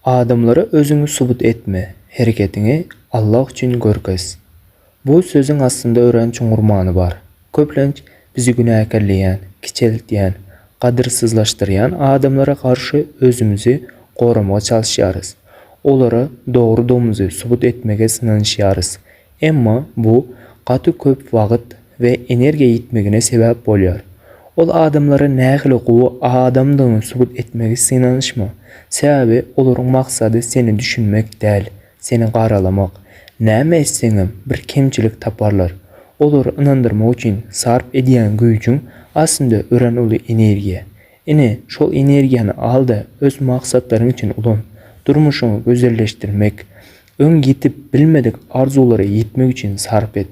Adamlara özüňi subut etme, hereketiňi Allah üçin görkez. Bu sözüň aslynda örän çuňňur many bar. Köplenç bizi günäkärleýän, kiçeltýän, gadyrsyzlaşdyrýan adamlara garşy özümizi goramaga çalyşýarys. Olara dogrydygymyzy subut etmege synanyşýarys. Emma bu gaty köp wagt we energiýa ýitmegine sebäp bolýar. Ol adamlara nähili gowy adamdygyňy subut etmegi synanyşma, sebäbi olaryň maksady seni düşünmek däl, seni garalamak. Näme etseňem bir kemçilik taparlar. Olary ynandyrmak üçin sarp edýän güýjüň aslynda örän uly energiýa. Ine, şol energiýany al-da öz maksatlaryň üçin ulan. Durmuşyňy gözelleşdirmek, Öň ýetip bilmedik arzuwlara ýetmek üçin sarp et.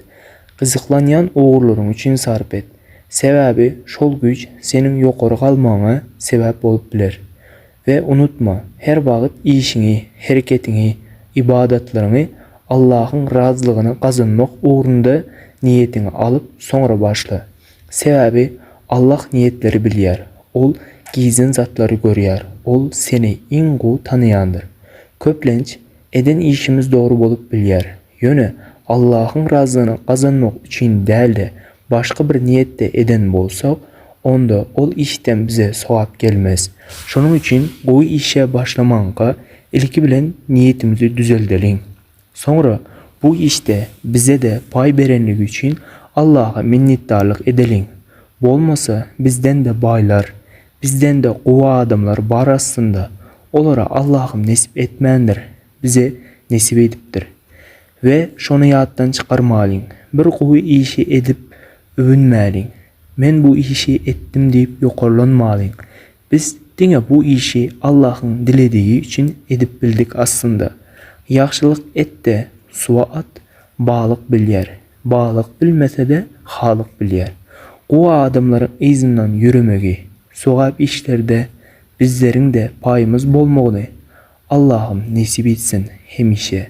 Gyzyklanýan ugurlaryň üçin sarp et. Sebäbi şol güýç seniň ýokary galmagyňa sebäp bolup biler. We unutma, her wagt işiňi, hereketiňi, ybadatlaryňy Allahyň razylygyny gazanmak ugrunda niýetiňi alyp soňra başla. Sebäbi Allah niýetleri bilýär, Ol gizlin zatlary görýär, Ol seni iň gowy tanaýandyr. Köplenç, eden işimiz dogry bolup bilýär, ýöne Allahyň razylygyny gazanmak üçin däl-de, başga bir niýetde eden bolsak, onda ol işden bize sogap gelmez. Şonuň üçin gowy işe başlamaňka, ilki bilen niýetimizi düzeldeliň. Soňra bu işde bize-de paý berenligi üçin Allaha minnetdarlyk edeliň. Bolmasa bizden-de baýlar, bizden-de gowy adamlar bar aslynda, olara Allahym nesip etmändir, bize nesip edipdir. We şony ýatdan çykarmalyň, bir gowy işi edip öwünmäliň, men bu işi etdim diýip ýokarlanmalyň, Biz diňe bu işi Allahyň diledigi üçin edip bildik aslynda. Ýagşylyk et-de, suwa at, balyk bilýär. Balyk bilmese-de, Halyk bilýär. Gowy adamlaryň yzyndan ýüremegi, sogap işlerde bizleriň-de paýymyz bolmagyny Allahym nesip etsin hemişe.